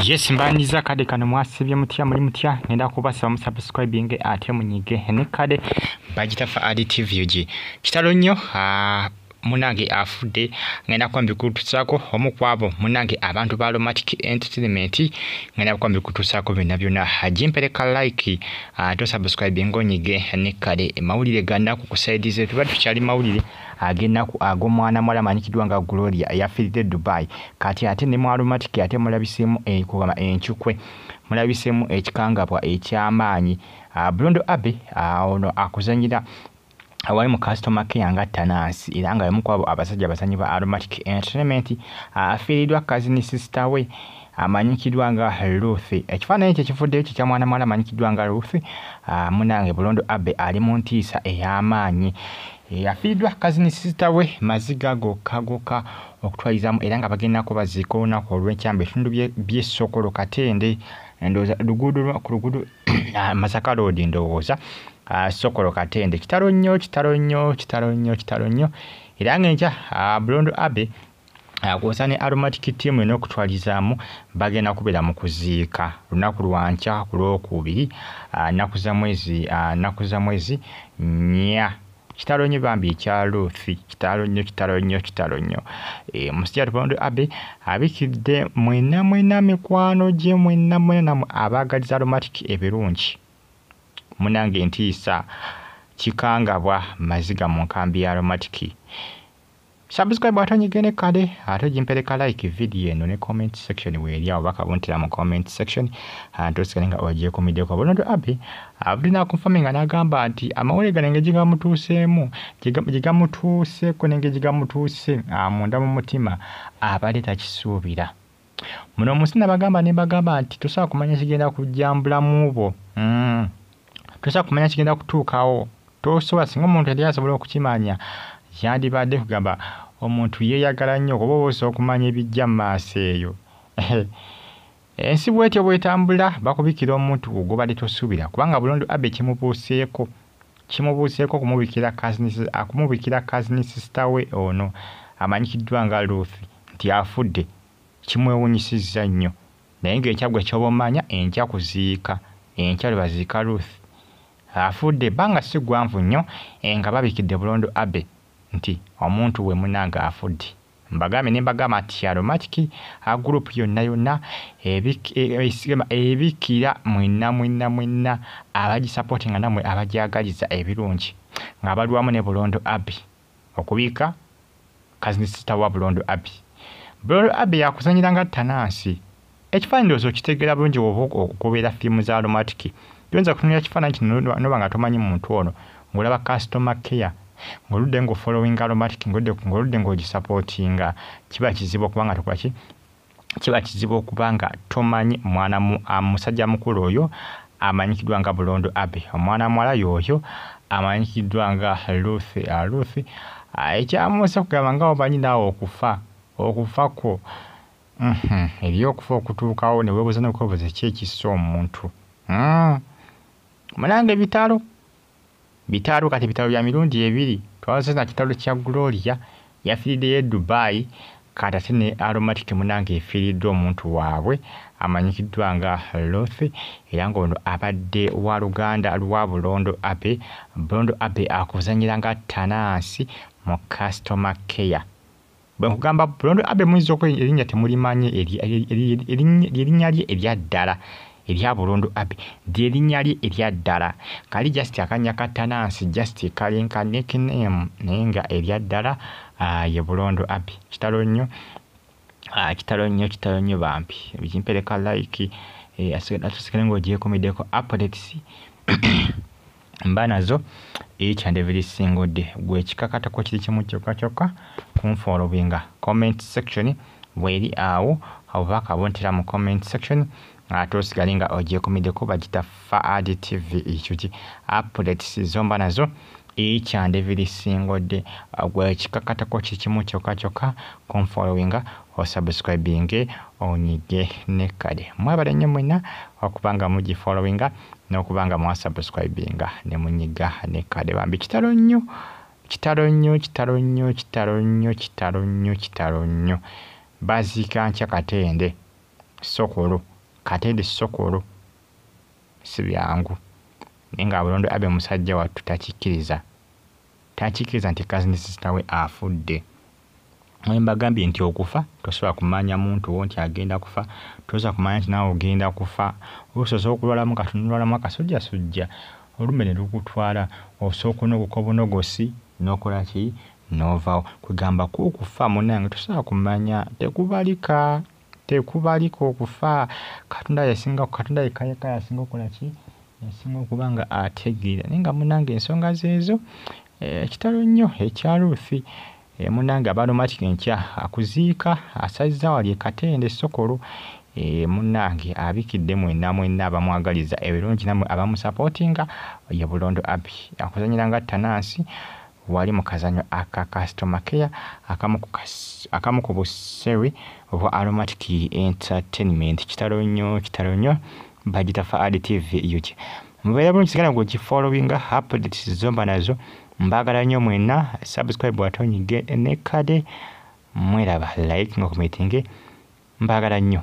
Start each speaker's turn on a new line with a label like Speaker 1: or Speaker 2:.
Speaker 1: yes mbanyiza kade kano mwasibye mutya muli mutya ngenda kubasaba musubscribing ate munyige ne kade bagitafa adtvg kitalo nnyo ah, munange afudde ngenda kuba mbikutusaako omu kwabo munange abantu ba lomatic entertainment ngenda kuba mbikutusaako byonna byonna jimpereka like ah, tosubscribing onyige ne kade mawulire ganaku kusaidize tuba tukyali mawulire ag'ennaku ag'omwana muwala amanyikiddwa nga Gloria eyafiiridde e Dubai kati ate ne mu aromatic ate mulabiseemu ekugamba encukwe mulabiseemu ekikangabwa eky'amaanyi ah, Blondo Abbey ah, ono akuzanyira awali mu customer care nga tanansi era nga yamu kwabo abasajja abazanyi ba aromatic entertainment ah, afiiridwa kazini sister we amanyikiddwa nga Ruth ekifaananyi ekyo ekivuddeyo kye kya mwana mwala amanyikiddwa nga Ruth munange Bulondo Abbey ali mu ntiisa ey'amaanyi Eyafiiriddwa kazini sisita we maziga gokka gokka okutwalizamu era nga bagenda kubaziika olunaku olw'enkya mu bitundu by'e Sokolo Katende ndowooza luguudo ku luguudo ah, Masaka Road ndowooza ah, Sokolo Katende kitalo nnyo kitalo nnyo kitalo nnyo kitalo nnyo era ng'enkya ah, Bulondo Abe kwosa ne aromatic team eno okutwalizaamu bagenda kubeera mu kuziika lunaku lwankya ku lwokubiri nnaku za mwezi nnaku za mwezi nnya kitalo nnyo bambi ekya luthi kitalo nnyo kitalo nnyo kitalo nnyo e, musajja tubondo abe abikidde mwena mwena mikwano gye mwena mwena namwe abaagaliza aromatic ebirungi munange ntiisa kikangabwa maziga mu nkambi ya aromatic Subscribe ate onyige ne kade ate ogimpeleka like video eno ne comment section weeri awo baka buntira mu comment section ante osigale nga ogyekumiddeko bunondo abi abudde nakunfami nga n'agamba nti amawulire gano engeri gyegamutuuseemu gyegamutuuseeko n'engeri gyegamutuuse munda mu mutima abadde takisuubira muno mu nsi nabagamba ne mbagamba nti tosobola kumanya kigenda kujja mu bulamu bwo mm. tosobola kumanya kigenda kutuukawo tosobola singa omuntu yali asobola okukimanya yandibadde kugamba omuntu yeeyagala nnyo kuba oba osobola okumanya ebijja mu maaso eyo ensi bwetyo bwetambula bakubikira omuntu gwe gobadde tosuubira kubanga bulondo abe kimubuuseeko Kimubuuseeko okumubikira cousins akumubikira cousin sister we ono amanyikiddwa nga Ruth nti afudde kimwewunyisizza nnyo naye ng'enkya ggwe ky'oba omanya enkya kuziika enkya lwe baziika Ruth afudde ebbanga si ggwanvu nnyo nga babikidde Bulondo Abbey nti omuntu we munnange afudde. Mbagambye ne mbagamba nti ya Romatiki a group yonna yonna ebikira mwenna mwenna mwenna abagisapoti nga namwe abagyagaliza ebirungi nga balwamu ne Bulondo Abby okubiika kazinisita wa Bulondo Abby. Bulondo Abby yakuzanyiranga Tanansi Ekifaananyi ndowooza okitegeera bulungi w'oba okubeera firimu za aromatiki. Toyinza kutunulira kifaananyi kino n'oba nga tomanyi muntu ono, ng'olaba customer care, ng'oludde ng'ofollowinga aromatiki, ng'oludde ng'ogisapootinga, kiba kizibu okuba nga tokola ki? Kiba kizibu okuba nga tomanyi mwana musajja mukulu oyo amanyikiddwa nga Bulondo Abbey. Omwana muwala y'oyo amanyikiddwa nga Ruth. Ruth ekyamuuse kugamba nga omanyi naawe okufa, okufa kwo. Uhmm eriyo okufa okutuukawo newebuza nokwebuza ki ekissa omuntu uhmm munange bitalo bitalo kati bitalo bya mirundi ebiri twaze na kitalo kya Gloria yafirideyo e Dubai kati ate ne Aromatic munange efiridwa omuntu wabwe amanyikiddwa nga Ruth era nga ono abadde wa luganda lwa Bulondo Abbey Bulondo Abbey akuzanyira nga Tanansi mu customer care. Bwe nkugamba Bulondo Abbey muyinza okuba erinnya temulimanyi ly'erinnya lye erya ddala erya Bulondo Abbey ly'erinnya lye erya ddala. Kali just akannya ka ttanansi just kali nka nickname naye nga erya ddala ah, ye Bulondo Abbey. Kitalo nnyo, ah, kitalo nnyo, kitalo nnyo bambi. Ekimpereka like eh, ate osigale ng'ogyekomeddeko updates. mba nazo each and every single day gwekikakatako kiri kimu kyokka kyokka kunfollowinga comment section bweri awo oba akabuntira mu comment section ate osigale nga ogyekumiddeko bagita faad tv ekyuki updates zomba nazo each and every single day gwekikakatako kiri kimu kyokka kyokka kunfollowinga osubscribinge onyige ne kale mwebale nnyo mwena okuba nga mugi followinga n'okuba nga mwasubscribinga ne munyiga ne kale bambi kitalo nnyo kitalo nnyo kitalo nnyo kitalo nnyo kitalo nnyo kitalo nnyo baziika nkya katende sokolo katende sokolo si byangu naye nga bulondo abe musajja wattu takikkiriza takikkiriza nti kazinisi kitawe afudde Mwe mbagambye nti okufa tosobola kumanya muntu wo nti agenda kufa, tosobola kumanya nti naawe ogenda kufa. Osoose okulwalamu nga tonalwalamu akasujjasujja olumbe ne lukutwala, osooka onogoka obunogosi n'okola ki n'ovaawo. Kwegamba kwo okufa munnange tosobola kumanya, tekubalika, tekubalika okufa. Katonda y'asinga, Katonda yekka yekka y'asinga okukola ki? Y'asinga okuba nga ategeera. Naye nga munnange ensonga zeezo, Ekitalo nnyo ekya Ruth. E, munange abaromatic enkya akuziika asazza wali e Katende e Sokolo e, munange abikidde mwena mwena abamwagaliza ebirungi namwe abamusapotinga ye Bulondo Abbey akuzanyira nga Tanansi wali mu kazanyo aka customer care akamu ku akamu ku busewi obwa aromatic entertainment. Kitalo nnyo kitalo nnyo bagita Faadi TV UK. mubeera bulungi sigala gwe kifollowinga updates zomba nazo mbagala nnyo mwena subscribe watonyige ne kade mweraba like nga kumitinge mbagala nnyo